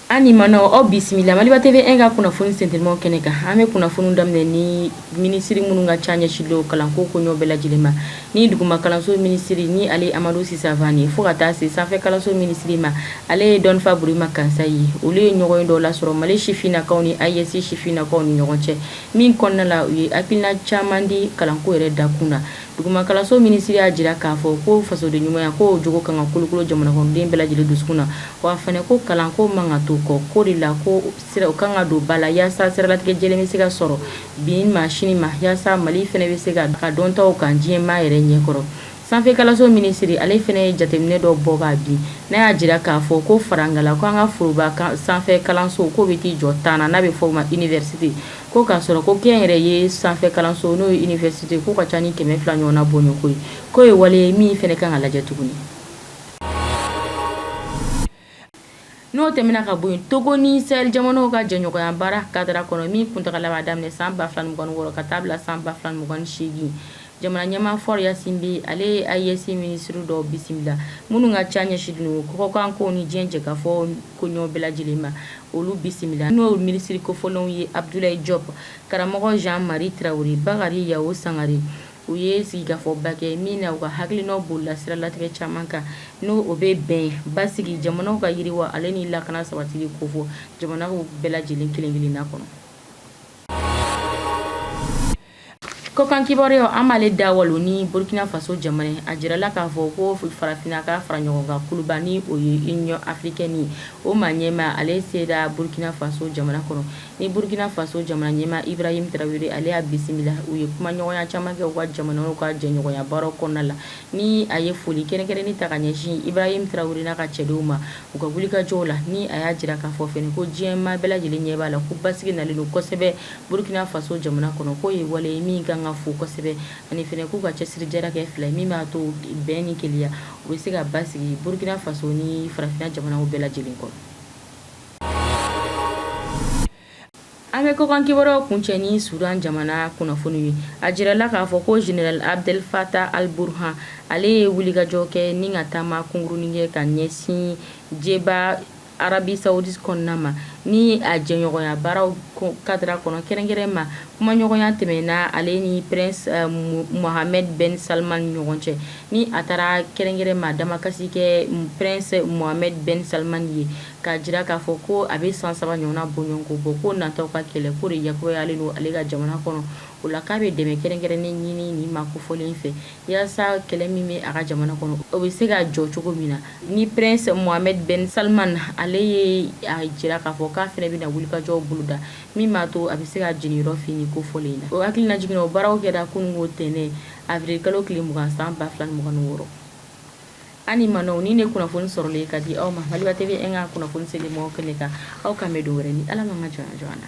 an ni manɔ aw bisimila maliba tv 1 ka kunnafoni sentelimaw kɛnɛ kan an bɛ kunnafoniw daminɛ ni minisiri minnu ka ca ɲɛsinnen don kalanko koɲɛ bɛɛ lajɛlen ma ni duguma kalanso minisiri ni ale ye amadu si savane fɔɔ ka taa se sanfɛ kalanso minisiri ma ale ye dɔnnifa burema kansayi olu ye ɲɔgɔnye dɔ lasɔrɔ mali sifinnakaw ni ayesi sifinnakaw ni ɲɔgɔn cɛ Min kɔnɔna la u ye hakilina caman di kalanko yɛrɛ da kun na duguma kalanso minisiri y'a jira k'a fɔ ko fasodenɲumanya k'o jogo kan ka kolokolo jamanakɔnɔden bɛɛ lajɛlen dusukun na wa fana ko kalanko man kan ka to kɔ k'o de la ko sira u kan ka don ba la yaasa siralatigɛ lajɛlen bɛ se ka sɔrɔ bi ma sini ma yaasa mali fana bɛ se k'a ka dɔntaw kan diɲɛmaa yɛrɛ ɲɛkɔrɔ Sanfɛ kalanso minisiri ale fana ye jateminɛ dɔ bɔ ka bin n'a y'a jira k'a fɔ ko farankan la ko an ka foroba sanfɛ kalanso k'o bɛ t'i jɔ tan na n'a bɛ fɔ o ma iniwɛrisite ko k'a sɔrɔ ko kɛnyɛrɛye sanfɛ kalanso n'o ye iniwɛrisite k'u ka ca ni kɛmɛ fila ɲɔgɔnna boɲɔgɔ ye k'o ye wale ye min fana ka kan ka lajɛ tuguni N'o tɛmɛna ka bɔ yen togo ni sahɛli jamanaw ka jɛɲɔgɔnya baara kadara kɔnɔ min kuntagala b'a daminɛ san 2026 ka taa bila san 2028 jamana ɲɛmaa fɔri ɲasingbe ale ye ayesi minisiri dɔw bisimila minnu ka ca ɲɛsinnen don kɔkan kow ni diɲɛ jɛkafɔ koɲɛ bɛɛ lajɛlen ma olu bisimila n'o minisiri kofɔlenw ye abudulayi jɔpu karamɔgɔ jan mari tarawele bakari yawu sangare U ye sigikafɔba kɛ min na u ka hakilinaw bolila siralatigɛ caman kan ni o bɛ bɛn basigi jamanaw ka yiriwa ale ni lakana sabatili kofɔ jamanaw bɛɛ lajɛlen kelen-kelenna kɔnɔ. Kɔkan kibaruyaw an b'ale da walo ni Burkina Faso jamana ye. A jirala k'a fɔ ko farafinna ka fara ɲɔgɔn kan kuluba ni o ye Union africaine ye. O maa ɲɛmaa ale sera Burkina Faso jamana kɔnɔ. Ni Burkina Faso jamana ɲɛmaa Ibrahim Traore ale y'a bisimila, u ye kumaɲɔgɔnya caman kɛ u ka jamanaw ka jɛɲɔgɔnya baaraw kɔnɔna la, ni a ye foli kɛrɛnkɛrɛnnen ta ka ɲɛsin Ibrahim Traore n'a ka cɛdenw ma u ka wulikajɔw la, ni a y'a jira k'a fɔ fɛnɛ ko diɲɛ maa bɛɛ lajɛlen ɲɛ b'a la ko basigi nalen don kosɛbɛ Burkina Faso jamana kɔnɔ, k'o ye wale ye min ka kan ka fo kosɛbɛ, ani fɛnɛ k'u ka cɛsirijala kɛ fila ye min b'a to bɛn ni kelenya, u bɛ se ka basigi Burkina Faso ni farafinna jamanaw bɛɛ lajɛlen kɔnɔ. An bɛ kokan kibaruyaw kuncɛ ni sudan jamana kunnafoni ye a jirala k'a fɔ ko jeneral abdel fatah al burhan ale ye wulikajɔ kɛ ni ka taama kunkurunnin kɛ ka ɲɛsin jɛba arabi sawudi kɔnɔna ma ni a jɛɲɔgɔnya baaraw kadara kɔnɔ kɛrɛnkɛrɛn ma kumaɲɔgɔnya tɛmɛna ale ni prince mohamed ben salman ɲɔgɔn cɛ ni a taara kɛrɛnkɛrɛn ma damakasi kɛ prince mohamed ben salman ye k'a jira k'a fɔ ko a bɛ san saba ɲɔgɔnna bɔɲɔgɔnko bɔ ko natɔ ka kɛlɛko diyagoyalen don ale ka jamana kɔnɔ o la k'a bɛ dɛmɛ kɛrɛnkɛrɛnnen ɲini nin maa kofɔlen fɛ yasa kɛlɛ min bɛ a ka jamana kɔnɔ o bɛ se ka jɔ cogo min na ni prince mohamed ben salman ale ye a jira k'a fɔ k'a fana bɛna wulikajɔw boloda min b'a to a bɛ se k'a jeniyɔrɔ fin nin kofɔlen in na o hakilinajigin na o baaraw kɛra kununko tɛnɛ avril kalo tile mugan san ba fila ni mugan ni wɔɔrɔ An ni ma ni ne kunnafoni sɔrɔlen ka di aw ma Maliba TV an ka kunnafoni se mɔgɔw kɛnɛ kan aw k'an bɛn don wɛrɛ ni ala ka joona joona